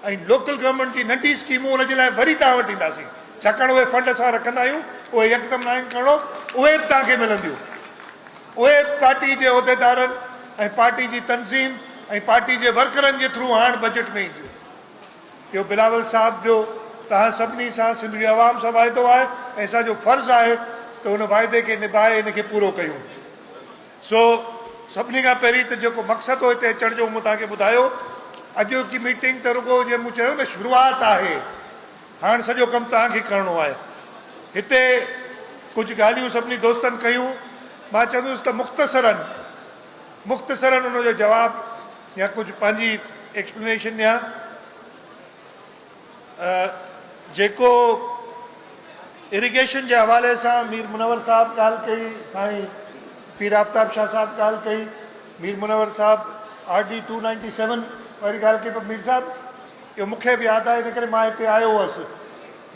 ۽ Local government جي ننڍي اسڪيمون ان جي لاء وري توهان وٽ اينداسين ڇاڪاڻ اهي فنڊ اسان رکندا آهيون اهي يڪدم ناهن کڻڻو اهي به توهان کي ملنديون اهي به پارٽي جي عهديدارن ۽ پارٽي جي تنظيم ۽ پارٽي جي ورڪرن جي ٿرو هاڻ بجيٽ ۾ اينديون. اهو بلاول صاحب جو توهان سڀني سان سنڌ جي عوام سان واعدو آهي ۽ اسان جو فرض آهي ته ان واعدي کي نڀائي ان کي پورو ڪيون. سو سڀني کان پهرين ته جيڪو مقصد هو هتي اچڻ جو مون توهان کي ٻڌايو. اڄوڪي ميٽنگ ته رڳو جيئن مون چيو نه شروعات آهي. هاڻ سڄو ڪم توهان کي ڪرڻو آهي. هتي ڪجهه ڳالهيون سڀني دوستن ڪيون. مان چوندس ته مختصراً مختصراً ان جو جواب يا ڪجهه پنهنجي ايڪسپلينيشن ڏيان. جيڪو اريگيشن جي حوالي سان مير منور صاحب ڳالهه ڪئي، سائين پير آفتاب شاهه صاحب ڳالهه ڪئي، مير منور صاحب R D two ninety seven واري ڳالهه ڪئي پر مير صاحب اهو مون کي به ياد آهي ان ڪري مان هتي آيو هوس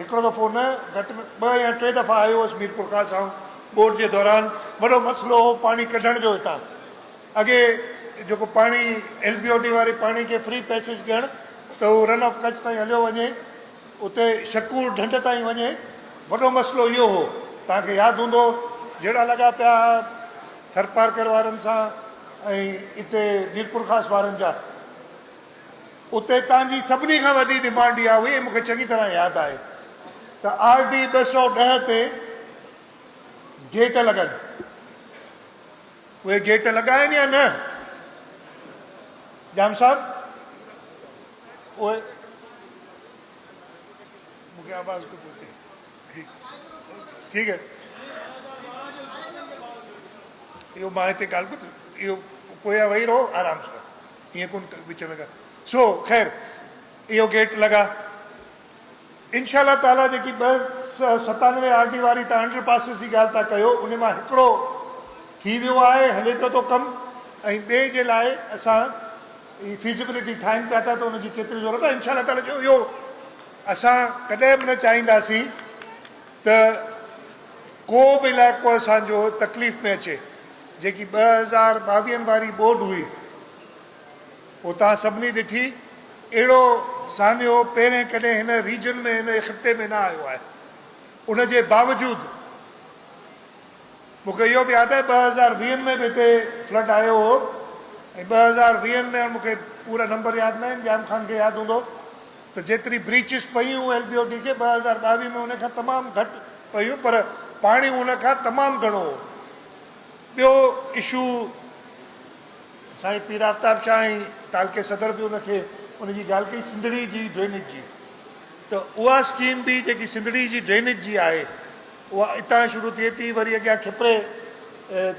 هڪڙو دفعو نه گهٽ ۾ ٻه يا ٽي دفعا آيو هوس ميرپورخاص آئون ٻوڏ جي دوران وڏو مسئلو هو پاڻي ڪڍڻ جو هتان اڳي جيڪو پاڻي ايل بي او ڊي واري پاڻي کي فري پيسيج ڏيڻ ته هو رن آف ڪڇ تائين هليو وڃي اتي شڪور ڍنڍ تائين وڃي وڏو مسئلو اهو هو توهان کي ياد هوندو جهيڙا لڳا پيا ها ٿرپارڪر وارن سان ۽ اتي ميرپورخاص وارن جا اتي توهان جي سڀني کان وڏي ڊيمانڊ اها هئي مون کي چڱي طرح ياد آهي ته آر ڊي ٻه سؤ ڏهه تي گيٽ لڳن اهي گيٽ لڳا آهن يا نه؟ ڄام صاحب اهي مون کي آواز ڪو پهچي ٺيڪ آهي اهو مان هتي ڳالهه ٻڌ اهو پويان ويهي رهو آرام سان ائين ڪون وچ ۾ ڳالهه سو خير اهو گيٽ لڳا انشاء الله تعاليٰ جيڪي ٻه سئو ستانوي آر ڊي واري تان انڊر پاسز جي ڳالهه ٿا ڪيو ان مان هڪڙو ٿي ويو آهي هلي پيو ٿو ڪم ۽ ٻئي جي لاء اسان هي فيزيبلٽي ٺاهين پيا ٿا ته ان جي ڪيتري ضرورت آهي انشاء الله تعاليٰ جو اهو اسان ڪڏهن به نه چاهينداسين ته ڪو به علائقو اسان جو تڪليف ۾ اچي جيڪي ٻه هزار ٻاويهن واري ٻوڏ هئي اتان سڀني ڏٺي اهڙو سانحو پهرين ڪڏهن هن ريجن ۾ هن خطي ۾ نه آيو آهي ان جي باوجود مونکي اهو به ياد آهي ٻه هزار ويهن ۾ به هتي فلڊ آيو هو ۽ ٻه هزار ويهن ۾ مونکي پورا نمبر ياد نه آهن ڄام خان کي ياد هوندو ته جيتري بريچز پيون ايل بي او ڊي کي ٻه هزار ٻاويهه ۾ ان کان تمام گهٽ پيون پر پاڻي ان کان تمام گهڻو هو ٻيو اشو سائين پير آفتاب شاهه ۽ تعلقي صدر به ان کي ان جي ڳالهه ڪئي سنڌڙي جي ڊرينيج جي ته اها اسڪيم به جيڪي سنڌڙي جي ڊرينيج جي آهي اها اتان شروع ٿئي ٿي وري اڳيان کپري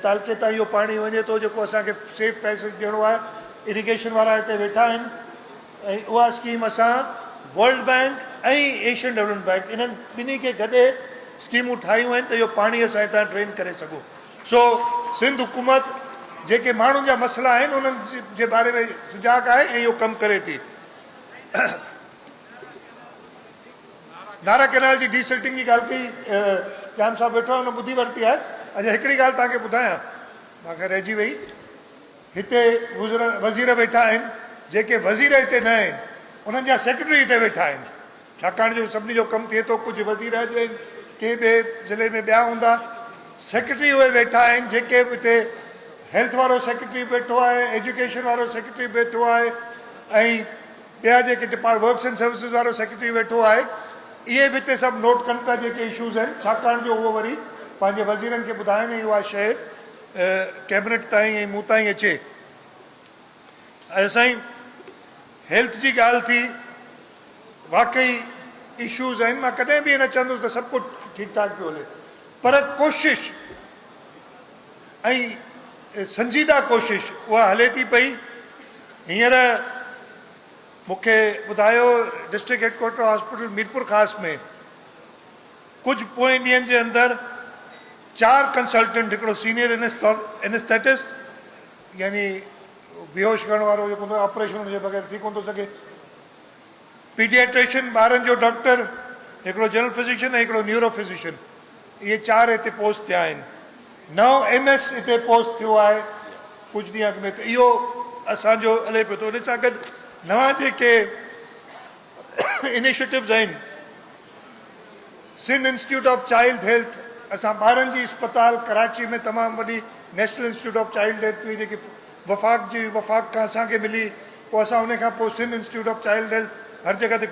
تعلقي تان اهو پاڻي وڃي ٿو جيڪو اسان کي سيف پيسيج ڏيڻو آهي اريگيشن وارا هتي ويٺا آهن ۽ اها اسڪيم اسان world bank ۽ Asian development bank انهن ٻنهي کي گڏي اسڪيمون ٺاهيون آهن ته اهو پاڻي اسان هتان ڊرين ڪري سگهون سو سنڌ حڪومت جيڪي ماڻهن جا مسئلا آهن انهن جي باري ۾ سجاڳ آهي ۽ اهو ڪم ڪري ٿي. نارا ڪينال جي ڊي سلٽنگ جي ڳالهه ڪئي ڄام صاحب ويٺو آهي ان ٻڌي ورتي آهي. اچا هڪڙي ڳالهه توهان کي ٻڌايان مان کان رهجي وئي هتي وزير ويٺا آهن جيڪي وزير هتي نه آهن انهن جا سيڪريٽري هتي ويٺا آهن. ڇاڪاڻ جو سڀني جو ڪم ٿئي ٿو، ڪجهه وزير اڄ آهن، ڪي ٻئي ضلعي ۾ ٻيا هوندا، سيڪريٽري اهي ويٺا آهن جيڪي به هتي هيلٿ وارو سيڪريٽري به ويٺو آهي، ايجوڪيشن وارو سيڪريٽري به ويٺو آهي ۽ ٻيا جيڪي ڊپارٽ ورڪس اينڊ سروسز وارو سيڪريٽري ويٺو آهي، اهي به هتي سڀ نوٽ ڪن پيا جيڪي اشوز آهن، ڇاڪاڻ جو اهو وري پنهنجي وزيرن کي ٻڌائن ۽ اها شيء ڪيبنيٽ تائين ۽ مون تائين اچي. ايا سائين هيلٿ جي ڳالهه ٿي واقعي اشوز آهن مان ڪڏهن به اهي نه چوندس ته سڀ ڪجهه ٺيڪ ٺاڪ پيو هلي پر ڪوشش ۽ سنجيده ڪوشش اها هلي ٿي پئي هينئر مون کي ٻڌايو district headquarter hospital Mirpur Khas ۾ ڪجهه پوئين ڏينهن جي اندر چار ڪنسلٽنٽ هڪڙو سينيئر انسٿيٽسٽ يعني بيهوش ڪرڻ وارو جيڪو هوندو آهي آپريشن ان جي بغير ٿي ڪونه ٿو سگهي. پيڊياٽريشن ٻارن جو ڊاڪٽر، هڪڙو جنرل فزيشن ۽ هڪڙو نيورو فزيشن اهي چار هتي پوسٽ ٿيا آهن. نئون ايم ايس هتي پوسٽ ٿيو آهي ڪجهه ڏينهن اڳ ۾ ته اهو اسان جو هلي پيو ٿو ان سان گڏ نوان جيڪي انيشيٽوز آهن. Sindh institute of child health اسان ٻارن جي اسپتال ڪراچي ۾ تمام وڏي national institute of child health هئي جيڪي وفاق جي وفاق کان اسان کي ملي پوء اسان ان کان پوء Sindh institute of child health هر جڳهه تي